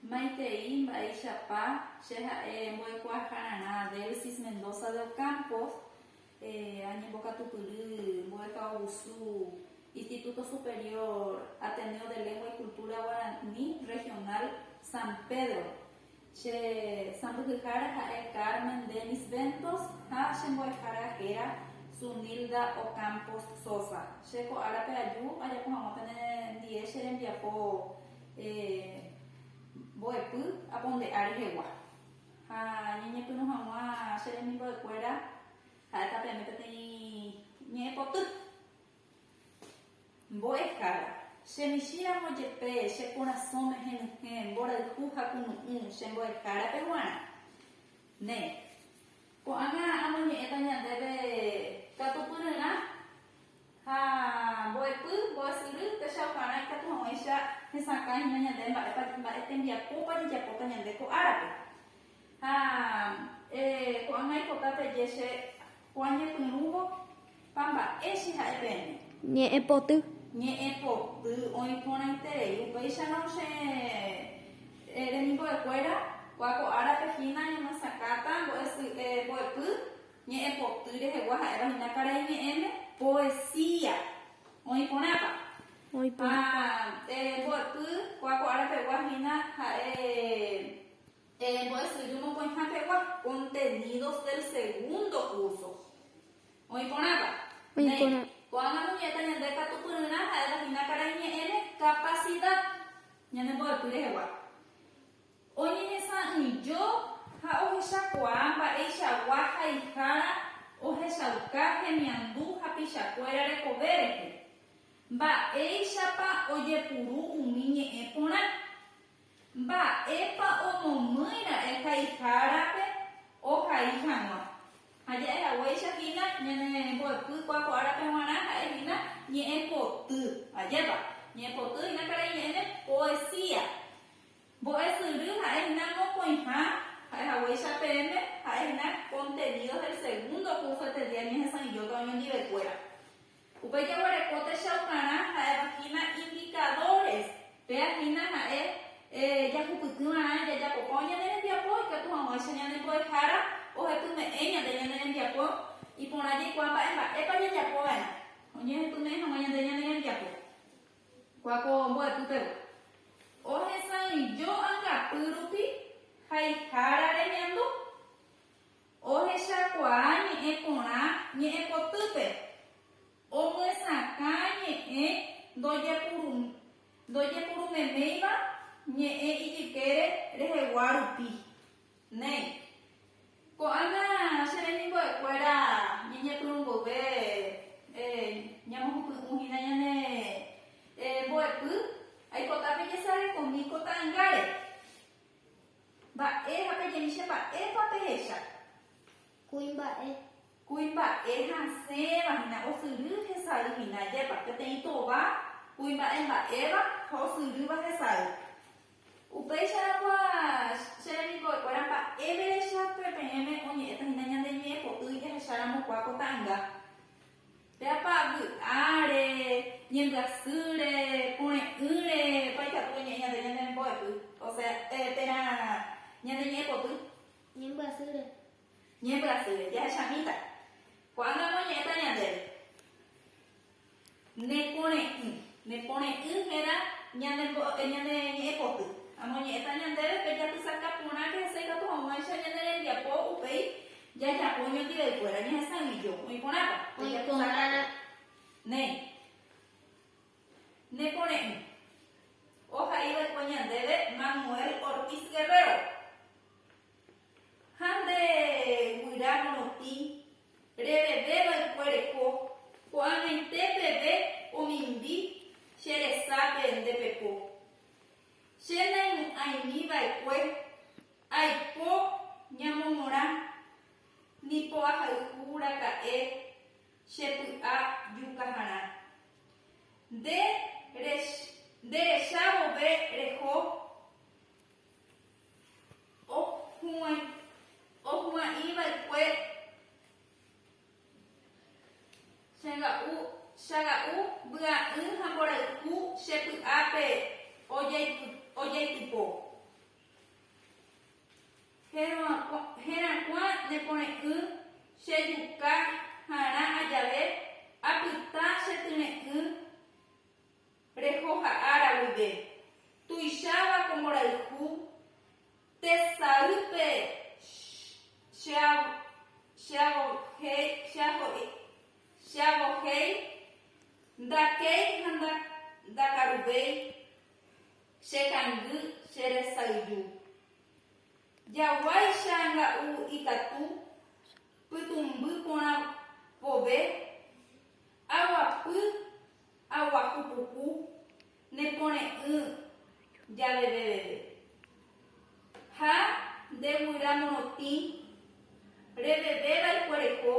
Maitei mba'eichapa che ha'e mbo'ekuaahararã Delsis Mendoza de Ocampo, añembokatupyry mbo'ehaovusu Instituto Superior Ateneo de Lengua y Cultura Guaraní Regional San Pedro, Che sãmbyhyhára ha'e Carmen Dennis Ventos ha che mbo'ehára héra Zunilda Ocampos Sosa. Che ko árape aju ajapo hag̃ua pene ndie che rembiapo mbo'epy aponde'a rehegua. Ha ñañepyrũ hag̃ua che rembimbo'ekuéra ha'e tapiame peteĩ ñe'ẽpoty. Mbo'ehára, che michĩ ramo jepe, che korasõ mehenyhẽ, mborayhu ha kunu'ũ, che mbo'ehárape guarã. Ne. Ko'ág̃a amoñe'ẽta ñandéve katupyryrã ha mbo'epy, mbo'esyry, péicha okarã ikatu hag̃uáicha hesakãhína ñande mba'épa, mba'e tembiapópa jejapóta ñande ko árape. Ha ko'ág̃a ipota peje che Juan ñepyrũvo, pa mba'e che ha'e peẽme. Ñe'ẽ poty. Ñe'ẽ poty oĩ porãiterei. Upéicharõ che remimbove kuéra, kua ko ára pe hína ñamosakáta mbo'epy ñe'ẽ poty rehegua ha'éva hína karai ñe'ẽme, poesía. Oĩ porãpa? Oĩ porã. Ha mbo'epy kua ko ára pegua hína ha'e. Terembo'esyry mokõiha pegua contenidos del segundo curso. Oĩ porãva? Néi, ko'ág̃a noñe'ẽta ñande katupyryrã ha'éva hína karai ñe'ẽre capacidad ñane mbo'epy rehegua. Oñehesa'ỹijo ha ohechakuaa mba'eichagua haihára ohechauka hemiandu hapichakuéra rekove rehe. Mba'éichapa ojepuru umi ñe'ẽ porã. Mba'épa omomýi ra'e haihárape ohai hag̃ua? Ha ja'e haguéicha hína ñane mbo'epy kua ko árape g̃uarã ha'e hína ñe'ẽpoty. Ajépa! Ñe'ẽpoty hína karai ñe'ẽme poesía. Mbo'esyry ha'e hína mokõiha, ha'e haguéicha peẽme ha'e hína contenidos del segundo curso este día ñehesãijóta oñondive kuéra. Upéi jaguereko techaukarã ha'éva hína indicadores, péa hína ha'e jahupyty va'erã jajapokõ ñane rembiapo ikatu hag̃uáicha ñane mbo'ehára ohepyme'ẽ ñande ñane rembiapo iporã jaikuaa mba'e mba'épa jajapo va'erã oñehepyme'ẽ hag̃ua ñande ñane rembiapo kua ko mbo'epy pegua ohesãijo angapy rupi haihára remiandu. Ohechakuaa ñe'ẽ porã ñe'ẽ potýpe, omyesakã ñe'ẽ ndojepurumeméiva ñe'ẽ ijykére rehegua rupi. Néi. Ko'ág̃a che remimbo'ekuéra ñañepyrũ mboyve ñamohupy'ũ hína ñane mbo'epy, aipota pejesarekomi ko ta'angáre. Mba'e ha peje'i che mba'épa pehecha. Kuimba'e. Kuimba'e hasẽva hína osyry hesay hína ajépa, peteĩ tova kuimba'e mba'éva ha osyrýva hesay. Upéicharõ kua che remimbo'ekuéra mba'éverecha peẽme oñe'ẽta hína ñande ñe'ẽpo'y jahecharamo kua ko ta'ãnga. Péapa vy'áre, ñembyasýre, pore'ỹre, vaicháku pe ñe'ẽ ñande ñande mbo'epy, osea, térã ñande ñe'ẽ poty. Ñembyasýre. Ñembyasýre, jahechamíta. Ko'ág̃a noñe'ẽta ñandéve. Ne pore'ỹ. Ne pore'ỹ hérã ñande mbo'e, ñande ñe'ẽ poty. Amoñe'ẽta ñandéve pe japysaka porã que hese ikatu hag̃uáicha ñane rembiapo upéi Jajapo oñotĩvaikuéra ñahesa'ỹijo oĩ porãpa. Oĩporãva. Néi. Ne pore'ỹ. Oha'iva'ekue ñandéve Manuel Ortiz Guerrero. Ha nde guyra morotĩ reveveva'ekue reko, ko'ag̃aite peve omimbi che resápe nde peko. Che naimu'ãimiva'ekue Aiko ñamomorã, ni po'ahayhu raka'e che py'a jukaharã. Nde recha vove reho ohu'ãi va'ekue chaga'u vy'a'ỹ ha mborayhu che py'ápe ojaitypo. Herakuã ne pore'ỹ che juka harã ajave apyta che tyre'ỹ rehoha ára guive. Tuicháva ko mborayhu tesaýpe cheavohéi, ndakéi ha ndakaruvéi. Che kangy, che resayju. Jaguáicha nga'u ikatu pytũmby porã vove, aguapy aguahu puku ne pore'ỹ javeve veve. Ha nde guyra morotĩ reveve vaikuereko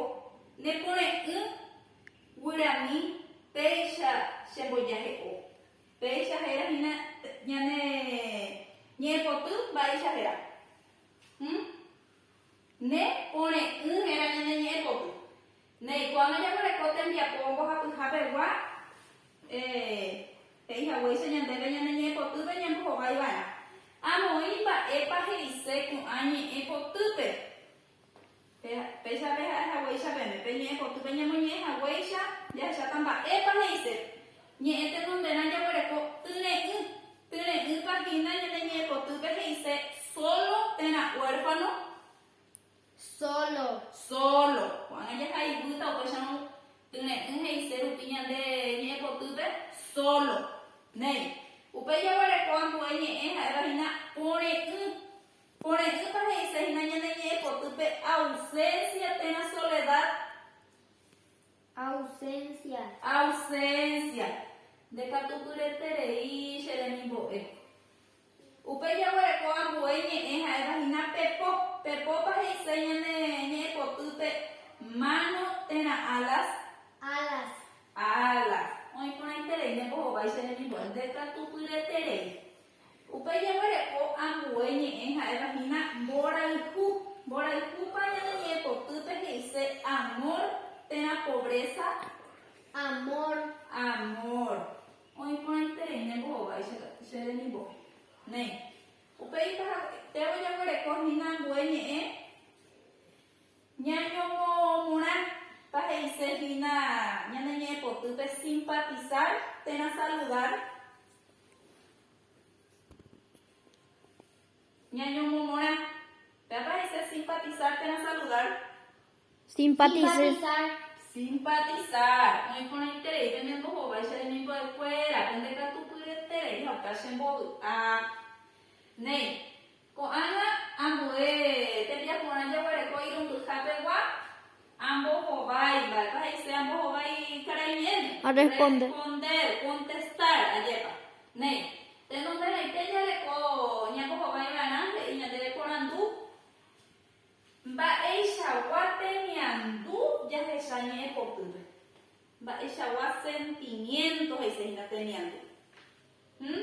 ne pore'ỹ guyrami péicha che mbojahe'o. Péicha héra hína ñane ñe'ẽpoty mba'éicha héra. Hm. Ne pore'ỹ héra ñane ñe'ẽpoty. Neikuaáma jaguereko tembiapo mbohapyha pegua, eh, he'i haguéicha ñandéve ñane ñe'ẽpotýpe ñambohovái va'erã. Amoĩ mba'épa he'ise ko'ã ñe'ẽpotýpe. Péicha peha'e haguéicha pene, pe ñe'ẽ potýpe ñamoñe'ẽ haguéicha jahecháta mba'épa he'ise. Ñe'ẽ tenonderã jaguereko tyre'ỹ. Tyre'ỹpa hína ñane ñe'ẽ potýpe he'ise sólo térã huérfano, sólo, sólo. Ko'ág̃a jahaivýta upéicharõ tyre'ỹ he'ise rupi ñande ñe'ẽ potýpe sólo. Néi. Upéi jaguereko ambue ñe'ẽ ha'éva hína pore'ỹ. Ko re'ỹpa he'ise hína ñane ñe'ẽ potýpe ausencia térã soledad. Ausencia. Ausencia. Ndekatupyreterei che remimbo'e. Upe jaguereko ambue ñe'ẽ ha'éva hína pepo. Pepópa he'ise ñane ñe'ẽ potýpe mano térã alas. Alas. Alas. Oĩ porãiterei ne mbohovái che remimbo'e. Ndekatupyreterei. Upe jeguereko ambue ñe'ẽ ha'éva hína mborayhu. Mborayhúpa ñane ñe'ẽpotýpe he'ise amor térã pobreza? Amor. Amor. Oĩ porãiterei ne mbohovái che, che remimbo'e. Néi. Upe ipahaguetévo jaguereko hína ambue ñe'ẽ ñañomo'õmorã pa he'ise hína ñane ñe'ẽpotýpe simpatizar térã saludar. Ñañomomorã. Pe aparecer simpatizar térã saludar. Simpatizar. Simpatizar. Oĩ porãiterei pende mbohováicha remimbo'ekuéra, pende katupyryete rei heta chembovy'a. Néi, Ko'ág̃a ambue tembiaporã jaguereko irũmbyha pegua, ambohovái. Mba'épa he'ise ambohovái karai ñe'ẽme? Responder, contestar. Ajépa. Néi, tenonderãite jareko ñambohovái va'erã he'i ñande reporandu. Mba'eichagua temiandu jahecha ñe'ẽ potýpe? Mba'eichagua sentimiento he'ise hína temiandu? Hm.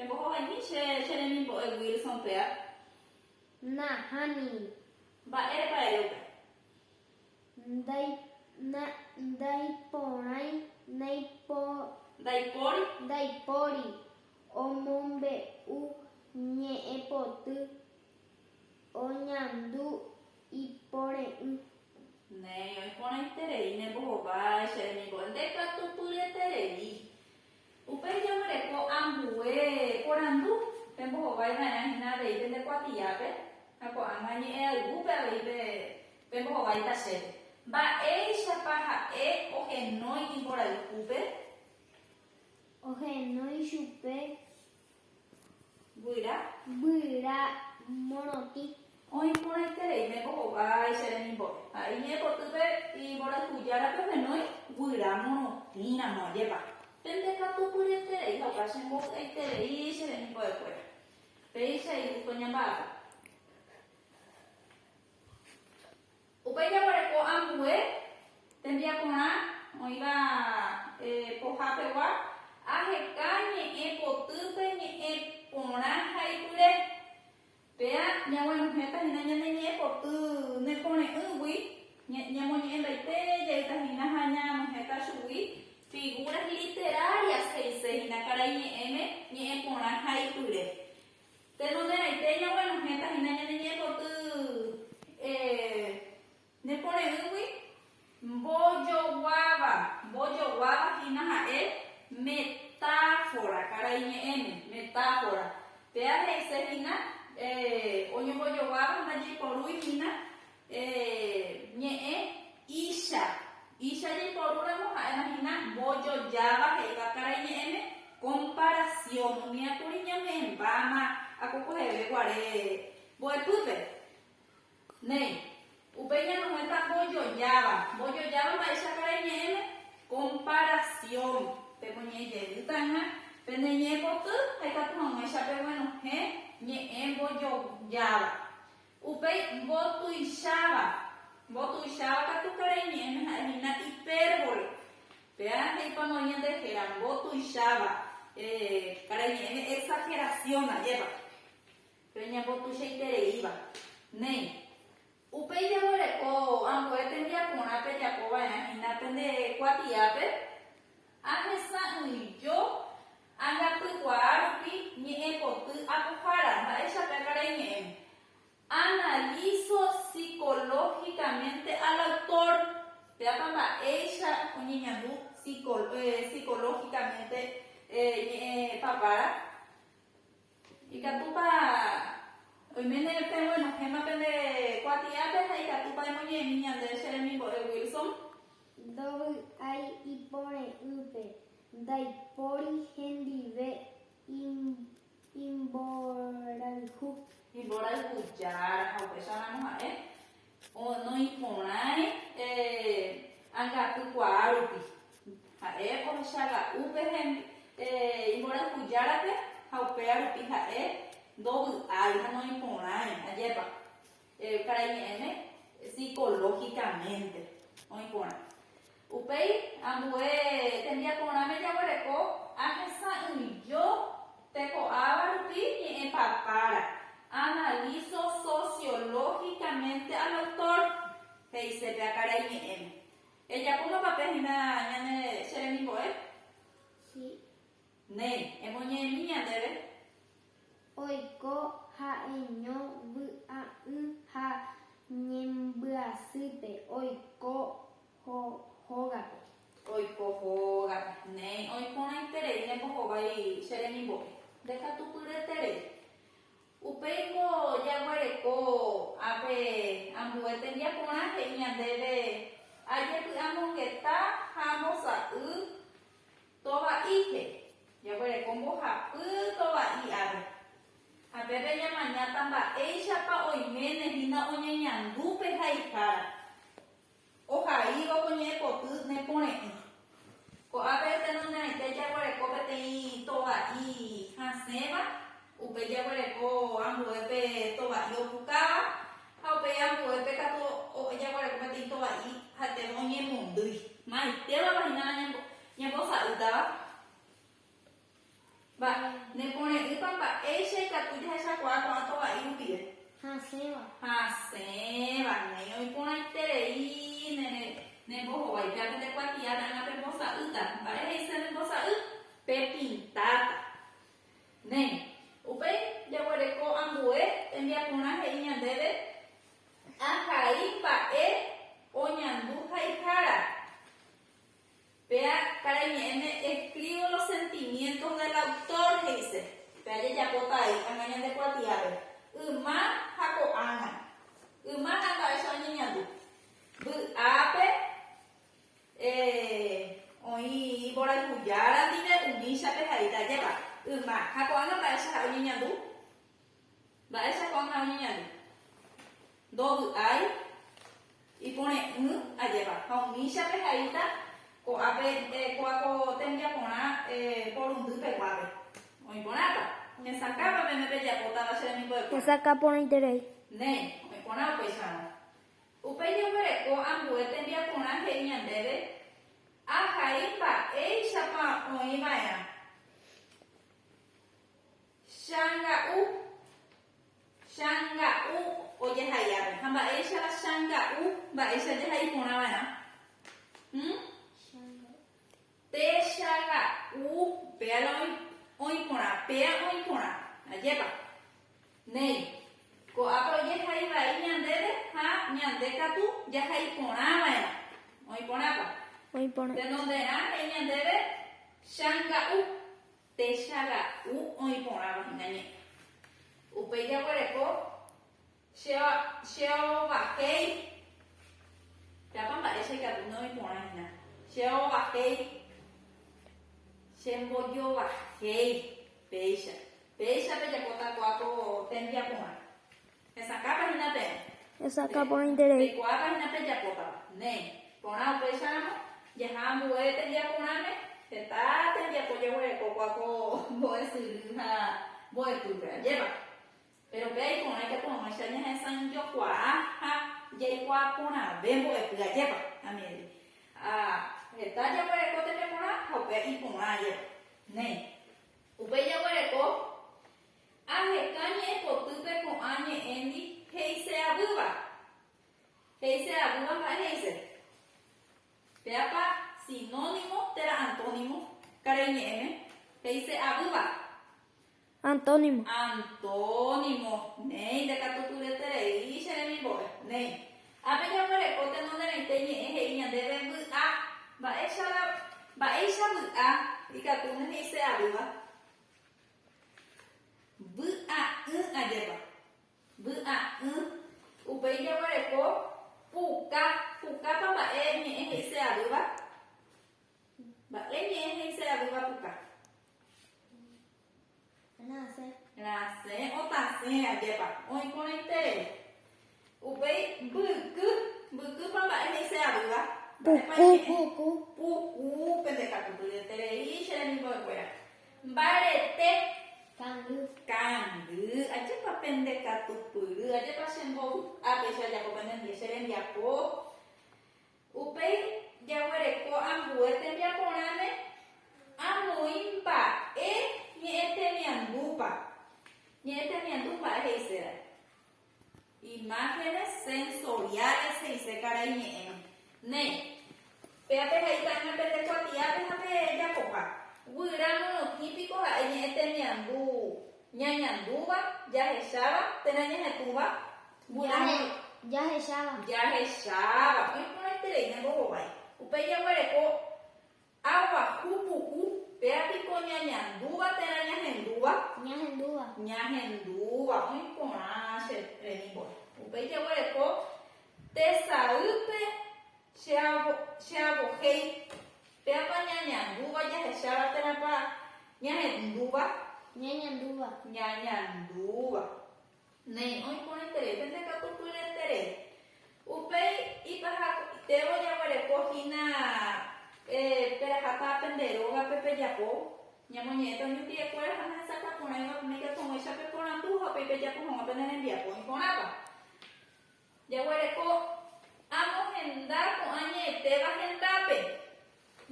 Embohovaimi che cheremimbo'e Wilson péa. Nahániri. Mba'érepa ere upe. Ndai, na, ndaiporãi, naipo. Ndaipóri. Ndaipóri omombe'u ñe'ẽpoty oñandu ipore'ỹ. Néi, oĩporãiterei ne mbohovái che remimbo'e. Ndekatupyreterei. Upéi jaguereko ambue porandu pembohovái va'erã hína avei pende kuatiápe ha ko'ág̃a ñe'ẽ aygúpe avei pembohováita chéve. Mba'éichapa ha'e ohenói imborayhúpe? Ohenói chupe Guyra. Guyra morotĩ. Oĩ porãiterei ne ko'ombái che remimbópe. Ha iñe'ẽ potýpe imborayhujárape ohenói guyra morotĩ ramo. Ajépa pende katu pyeterei ha opa che mbovy'aiterei che remimbo'e kuéra. Péicha igusto ñamba'apo. Upéi jaguereko ambue tembiaporã oĩva pohapegua, aheka ñe'ẽ potýpe ñe'ẽ porã ha ipyre. Péa ñaguenohẽta hína ñane ñe'ẽ poty ne pore'ỹgui, ñamoñe'ẽmbaite jeýta hína ha ñanohẽta chugui. Figuras literarias he'ise hína karai ñe'ẽme ñe'ẽ porã ha ipyre. Tenonderãite ñaguenohẽta hína ñane ñepoty nepo reýgui. Mbojoguáva. Mbojoguáva hína ha'e metáfora, karai ñe'ẽme, metáfora. Péa he'ise hína oñombojoguáva ndajeiporúi hína. Ñe'ẽ, Icha. Icha jaiporúramo ha'éma hína mbojojáva he'iva karai ñe'ẽme komparasión. Umía kuri ñame'ẽmbáma akokoheve guare mbo'epýpe. Néi, upéi ñanohẽta mbojojáva. Mbojojáva mba'éicha karai ñe'ẽme komparasión. Pemoñe'ẽjeýtaiha pende ñe'ẽpoty ha ikatu hag̃uáicha peguenohẽ ñe'ẽ mbojojáva. Upéi mbotuicháva. Mbotuicháva katu karai ñe'ẽme ha'e hína hipérbole. Péa he'ipamo oĩ ñande héra mbotuicháva, karai ñe'ẽme exagerasiõ ajépa, péro ñambotuichaitereíva. Néi, upéi jaguereko ambue tembiaporã pejapo va'erã hína pende kuatiápe, Ahesa'ỹijo Angapykuaa rupi ñe'ẽpoty apohára, mba'éichapa ekarai ñe'ẽ? Analizo psicológicamente al autor, péapa mba'éicha oñeñandu psicológicamente ñe'ẽ papára? Ikatúpa oiméne peguenohẽma pende kuatiápe ha ikatúpa emoñe'ẽmi ñande che remimbo'e Wilson? Ndovy'ái ipore'ỹpe. Ndaipóri hendive imborayhu. Imborayhu Jára ha upéicha ramo ha'e noĩporãi angapy kuaa rupi. Ha'e ohecha ga'u pe imborayhu Járape ha upéva rupi ha'e ndovy'ái ha noĩporãi. Ajépa? Karai ñe'ẽme psicológicamente oĩ porã. Upéi ambue tembiaporãme jaguereko ahesa'ỹijo teko'áva rupi ñe'ẽ papára, analizo sociológicamente al autor, he'ise péa karai ñe'ẽme. Ejapómapa pe hína ñane che remimbo'e? Sí. Néi, emoñe'ẽmi ñandéve. Oiko ha'eño vy'a'ỹ ha ñembyasýpe, oiko hógape. Oiko hógape. Néi oĩ porãiterei nembohovái che remimbo'e. Ndekatupyreterei. Upéi ko jaguereko ápe ambue tembiaporã he'i ñandéve ajepy'amongeta ha ambosa'y Tova'i, he'i. Jaguereko mbohapy tova'i ári. Ha pépe ñamañáta mba'éichapa oiméne hína oñeñandu pe haihára. Ohaíva ko ñe'ẽpoty nepore'ỹ. Ko'ápe tenonderãite jaguereko peteĩ tova'i hasẽva. Upéi jaguereko ambuépe tova'i opukáva, ha upéi ambuépe katu jaguereko peteĩ tova'i ha'etéma oñemondýi. Maitévapa hína la ñambosa'ýtava? Mba'e. Nepore'ỹpa mba'éicha ikatu jahechakuaa ko'ã tova'i rupive? Hasẽva. Hasẽva. Néi oiporãiterei nembohovái. Péape nde kuatiáta hína pembosa'ýta. Mba'e he'ise nembosa'y? Pepintáta. Néi. Upéi jaguereko ambue tembiaporã he'i ñandéve ahai mba'e oñandu haihára. Péa karaiñe'ẽme escribo los sentimientos del autor, he'ise. Péa jajapóta ai ág̃a ñande kuatiápe, yma ha ko'ág̃a. Yma ha mba'éicha oñeñandu. Vy'ápe. Eh, oĩ iporayhujára ndive umíchape haita ajépa, yma, ha ko'ág̃a mba'éichapa oñeñandu? Mba'éicha ko'ág̃a oñeñandu? Ndovy'ái, ipore'ỹ ajépa, ha umíchape haita ko'ápe, eh, ko'a ko tembiaporã, eh, porundy peguápe. Oĩ porãpa? Hesakãpa peẽme pejapótava che remimbo'ekuéra? Hesakã porãiterei. Néi, oĩ porã upéicharõ. Upéi jeguereko ambue tembiaporã he'i ñandéve, Ahai mba'éichapa oĩ va'erã. Changa'u, changa'u ojahai'ápe. Ha mba'éichapa changa'u mba'éicha jahai porã va'erã? Hm? Péicha ka'u, péa la oĩ, oĩ porã, péa oĩ porã. Ajépa. Néi. Ko'ápe ojehai vai ñandéve ha ñande katu jahai porã va'erã. Oĩ porãpa. Oĩ porã. Tenonderã he'i ñandéve changa'u. Péicha ka'u oĩ porãva hína ñe'ẽ. Upéi jaguereko. Che ovakéi. Pe'ápa mba'e che katu nde oĩ porã hína. Che ovakéi. Che mbojovahéi. Péicha. Péicha pe japóta kua ko témpia porã. Hesakãpa hína peẽ. Hesakã porã iterei. Pe kuaápa hína pe japótava. Néi. Porã upéicha ramo, jaha ambue témpia porãme, heta tembiapo jaguereko kua ko mbo'e syry ha mbo'epýpe. Ajépa. Péro pe iporã ikatuaguãicha ñahesãijokuaa ha jaikuaa porãve mbo'epy ajépa, amigui. Ha heta jaguereko tembiaporã ha upe iporã ajépa. Néi. Upéi jaguereko, Aheka ñe'ẽpotýpe ko'ã ñe'ẽndi he'ise avýva. He'ise avýva mba'e he'ise? Péapa sinónimo térã antónimo karai ñe'ẽme? He'ise avýva. Antónimo. Antónimo, Néi, ndakatukuretereíri che remimbove. Néi, ápe jaguereko tenonderãite ñe'ẽ he'i ñandéve vy'a. Mba'éichara, mba'éicha vy'a ikatu ne he'ise avýva? Vy'a'ỹ ajépa. Vy'a'ỹ. Upéi jaguereko puka. Pukápa mba'e ñe'ẽ he'ise avýva? Mba'e ñe'ẽ he'ise avýva puka. Rasẽ. Rasẽ, otasẽ, ajépa. Oĩporãiterei. Upéi mbyky, mbykýpa mba'e he'ise avýva? Puku. Puku. Puku, pende katu pyeterei che remimbo'ekuéra. Mbarete. Kangy. Kangy, ajépa pende katu pyry, ajépa che mbovy'ápe che ajapo pende ndie, che rembiapo. Upéi jaguereko ambue tembiaporãme amoĩ mba'e ñe'ẽtemiandúpa. Ñe'ẽtemiandu mba'e he'iséva. Imágenes sensoriales he'ise karai ñe'ẽme. Ne, péva pehaita'ỹme pende kuatiápe ha pejapoha. Guyra morotĩ piko ha'e ñe'ẽtemiandu ñañandúva, jahecháva térã ñahetũva Jahecháva. Oĩporãiterei ne mbohovái. Upéi jaguereko aguahu pu'u. Péva piko ñañandúva térã ñahendúva? Ñahendúva. Oĩ porã che rembiguái. Upéi jaguereko tesaýpe che avohéi. Pévapa ñañandúva, jahecháva térãpa ñahendúva? Ñañandúva. Néi, oĩ porãiterei pende katu pyerenterei. Upéi ipahakuaitévo jaguereko hína perahata pende rógape pejapo, ñamoñe'ẽta umi mbyekuéra ha nahesakuaporãiva peneikatuõguéicha peporandu ha upéi pejapo hag̃ua pene rembiapo oĩ porãva. Jaguereko amohenda ko'ã ñe'ẽtéva hendápe.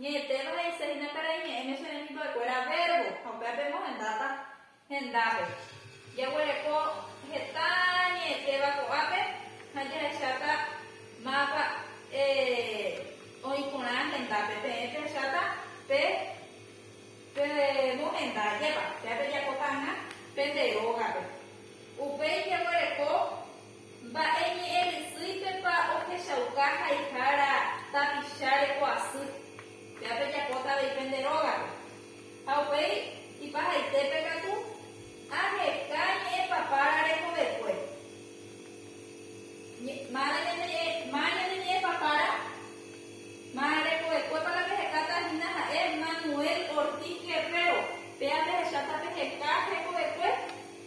Ñe'ẽtéva he'ise hína karai ñe'ẽme che rembipekuéra vérbo ha upépe emohendáta hendápe. Jaguereko heta ñe'ẽtéva ko'ápe ha jahecháta mápa oĩ porã hendápe. Peẽ pehecháta pe pemohenda ajépa. Péa pejapóta hag̃ua pende rógape. Upéi jaguereko. Mba'e ñe'ẽ rysýipepa ohechauka haihára tapicha reko asy? Péva pejapóta avei pende rógape. Ha upéi, ipahaitépe katu, aheka ñe'ẽ papára rekovekue. Mána ñande ñe'ẽ, má ñande ñe'ẽ papára, má rekovekuépa la pehekáta hína ha'e Manuel Ortiz Guerrero. Péva pehecháta peheka hekovekue.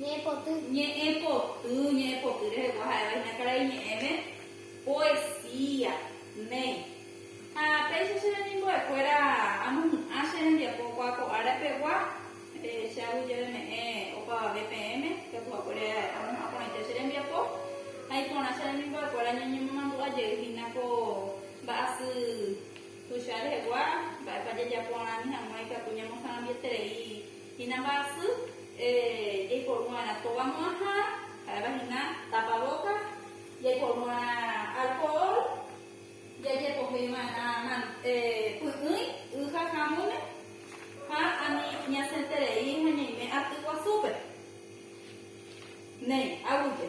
Ñe'ẽ poty. Ñe'ẽ poty, ñe'ẽ poty rehegua ha'éva iñakarai ñe'ẽme, poesía, néi. Ha péicha che remimbo'ekuéra amohu'ã che rembiapokua ko ára pegua, che aguijeveme'ẽ opavave peẽme, katu hakuére amohu'ã porãite che rembiapo, ha iporã che remimbo'ekuéra ñañemomandu'a jey hína ko mba'asy tuicha rehegua, mba'épa jajapo ani hag̃ua ikatu ñamosãrambieterei. Hina mba'asy jaiporu'arã tóva mo'ãha, ha'éva hina tapabóka, jaiporu'arã alkohol, jajepoheiva'erã py'ỹi y ha hamúme, ha ani ñasenterei ha ñaime aty guasúpe. Néi, aguyje.